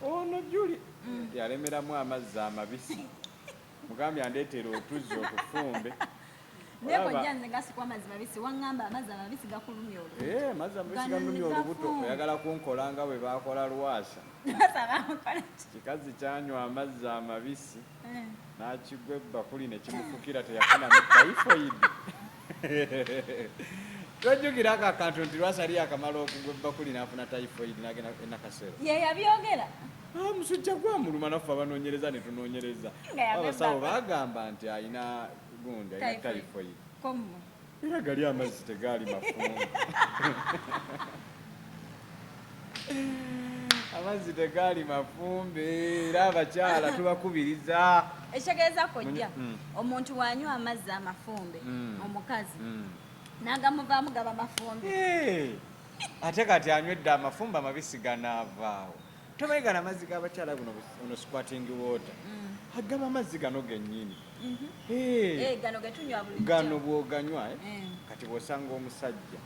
ono juli mm. yalemeramu amazzi amabisi mugambye andeetera otuzzi otufumbe eh, amazzi olubuto oyagala kunkola nga bwe bakola lwasa kikazi kyanywa amazzi amabisi eh. n'akigwa ebbakuli ne kimufukira teyafuna mu taifoidi tojjukira ako akantu nti lwasali akamala okugwa ebbakuli n'afuna typhoid nagenda enakasero ye yabyogera ah, musujja gwamuluma naffe abanoonyereza ne tunoonyereza abasawo bagamba nti alina gundi alina typhoid era gali amazzi tegaali mafumu amazzi tegaali mafumbe era abakyala tubakubiriza ekitegeeza kojja mm. omuntu wanywa amazzi amafumbe mm. omukazi mm. nagamuvaamu gaba mafumbe eh. ate kati anywedde amafumbe amabisi ganaavaawo tomanyi gano amazzi g'abakyala guno ono squating water agaba amazzi gano gennyini mm-hmm. eh. Eh, gano bwoganywa kati bwosanga omusajja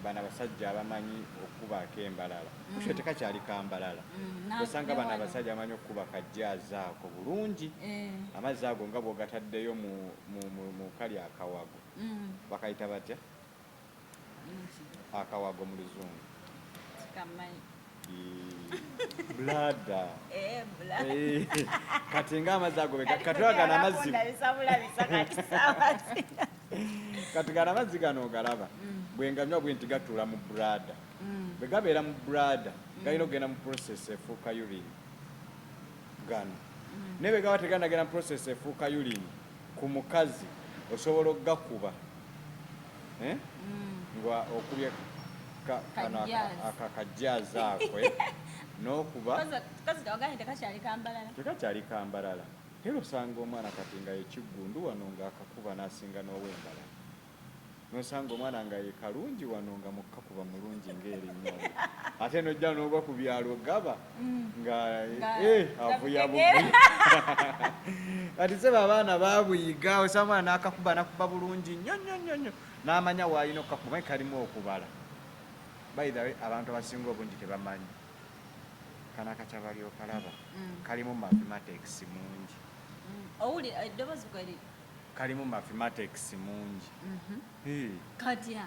bana basajja abamanyi okukuba akembalala mm. kusho tekakyali kambalala mm. osanga bana basajja abamanyi okukuba kajjaazi ako bulungi eh. amazzi ago nga bwogataddeyo mu kali akawago mm. bakayita batya akawago mu luzungu bulaada eh, eh, kati nga amazzi ago katwagana amazzi kati gana amazzi gano ogalaba mm. bwenganywa bwe nti gatuula mu bulaada mm. bwe gabeera mu bulaada mm. galina okugenda mu process efuuka yulini gano naye bwe gaba teganagenda mu process efuuka yulini ku mukazi osobola okugakuba eh? mm. nga okubye kano akakajjaazi akwe n'okuba tekakyali kambalala era osanga omwana kati nga yekiggundu wano ng'akakuba n'asinga n'ow'embalala nosanga omwana nga ye kalungi wano nga mukkakuba mulungi ng'erinnya ate nojja n'ogwa ku byalo gaba mm. nga eh, avuya buvuya kati sebo abaana babuyiga osanga omwana nakakuba nakuba bulungi nnyo nnyo nnyo nnyo n'amanya waalina okukakuba manyi kalimu okubala by the way abantu abasinga obungi tebamanyi kana kacabali okalaba mm. kalimu mathematics mungi mm. owuli eddoboozi eh, kalimu mathematics mungi mm-hmm. katya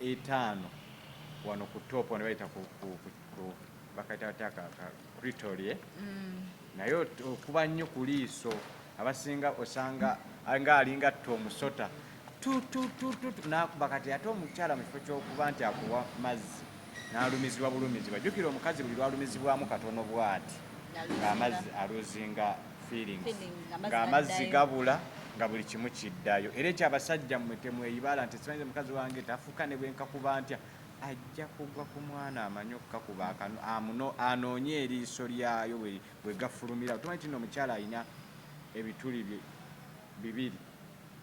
etaano wano ku top wano bayita ku bakayita batya ka kritolye mm. naye okuba nnyo ku liiso abasinga osanga nga alinga tta omusota tututututu nakuba kati ate omukyala mu kifo kyokuba nti akuwa mazzi nalumizibwa bulumizibwa jukira omukazi buli lwalumizibwamu katono bwati ng'amazzi aluzinga ng'amazzi gabula nga buli kimu kiddayo era ekyo abasajja mmwe temweyibala nti simanyize mukazi wange tafuka ne bwenkakuba ntya ajja kugwa ku mwana amanyi okukakuba akano amuno anoonye eriiso lyayo bwe gafulumira tumanyi tino omukyala alina ebituli bye bibiri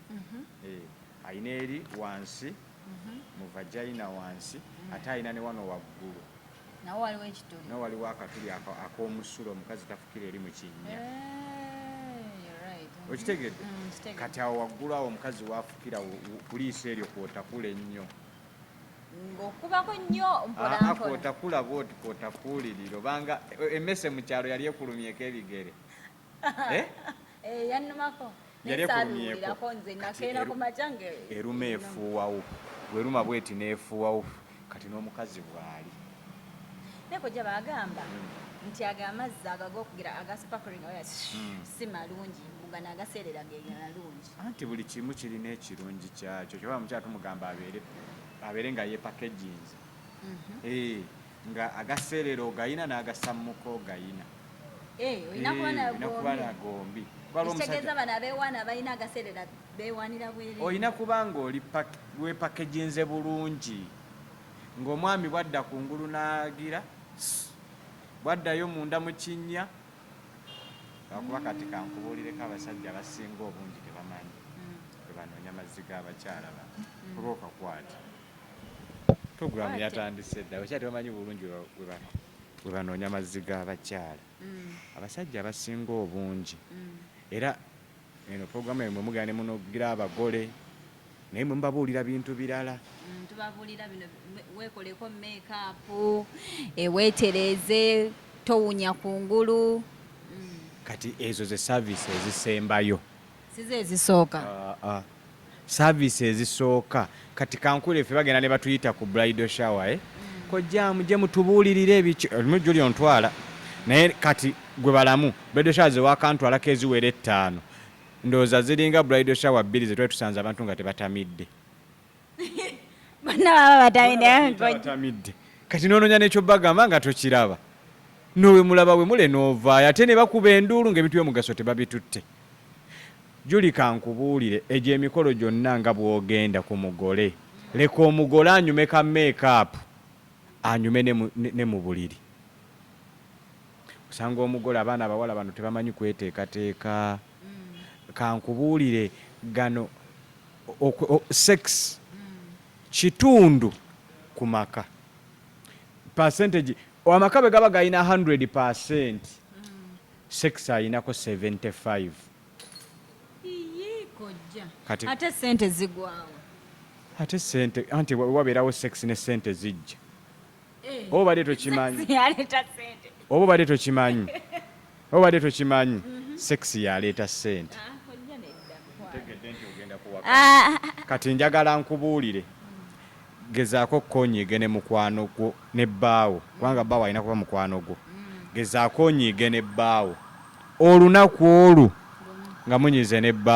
mhm. eh, alina eri wansi mhm. mu vagina wansi mhm. ate alina ne wano waggulu nawo waliwo ekituli nawo waliwo akatuli ak'omusulo omukazi tafukira eri mu kinnya eh, okitegedde mm, kati awo waggulu awo omukazi waafukira kuliisa eryo kwotakula ennyo ng'okubako nnyo mpolampola kwotakula bwoti kwotakuulirira obanga e, emmese mu kyalo yali ekulumyeko ebigere eh? eh, yannumako yali ekulumyeko eruma efuuwawo bweruma bweti neefuuwawo kati n'omukazi bwali naye kojja bagamba hmm. nti ago amazzi ago agokugira agaspakulinga oya hmm. si malungi mbugana agaseerera geganalungi anti buli kimu kirina ekirungi kyakyo kyoba mukyala tumugamba abeere abeere nga yepakeginze mhm. eh, nga agaseerera ogayina n'agasammuka ogayina eh, olina kuba eh, nagombi ekitegeeza bano abeewaana abalina agaseerera beewaanira bwere olina kuba nga oli wepakeginze bulungi ng'omwami bwadda ku ngulu n'agira bwaddayo munda mu kinnya lwakuba kati kankubuulireko abasajja abasinga obungi tebamanyi mm. bwe banoonya mazzi g'abakyala ba mm. kulwokakwata Program yatandise dda abakyala tebamanyi bulungi we banoonya mazzi g'abakyala mm. abasajja abasinga obungi mm. era eno program emwe mugera ne munogira abagole naye mwe mubabuulira bintu birala mm, tubabuulira bino weekoleko meekaapu eweetereeze eh, towunya ku ngulu kati ezo ze service ezisembayo size ezisooka uh, uh. service ezisooka kati kankule ffe bagenda ne batuyita ku bridal shower eh? mm. kojja muje mutubuulirire ebiki olimu juli ontwala naye kati gwe balamu bridal shower zewakantwalako eziwera ettaano ndowooza ziringa bridal shower bbiri zetwali tusanze abantu nga tebatamidde bonna baba batamidde kati nononya nekyo bagamba nga tokiraba nowe mulaba we mule novaayo ate ne bakuba enduulu ngaebintu byomugaso tebabitutte juli kankubuulire egyo emikolo gyonna nga bwogenda ku mugole leka omugole anyume ka meekaapu anyume ne mu buliri osanga omugole abaana abawala bano tebamanyi kweteekateeka Kankubuulire gano sex kitundu ku maka percentage amaka bwe gaba galina 100 percent sex alinako 75 kati ate sente zigwawo ate sente anti wabeerawo sex ne sente zijja eh, oba obadde tokimanyi oba obadde tokimanyi obadde tokimanyi sex yaleeta sente ah, kati njagala nkubuulire gezaako okonyiige ne mukwano gwo ne bbaawo kubanga bbaawo alina kuba mukwano gwo gezaako onyiige ne bbaawo olunaku olwo nga munyize ne bbaawo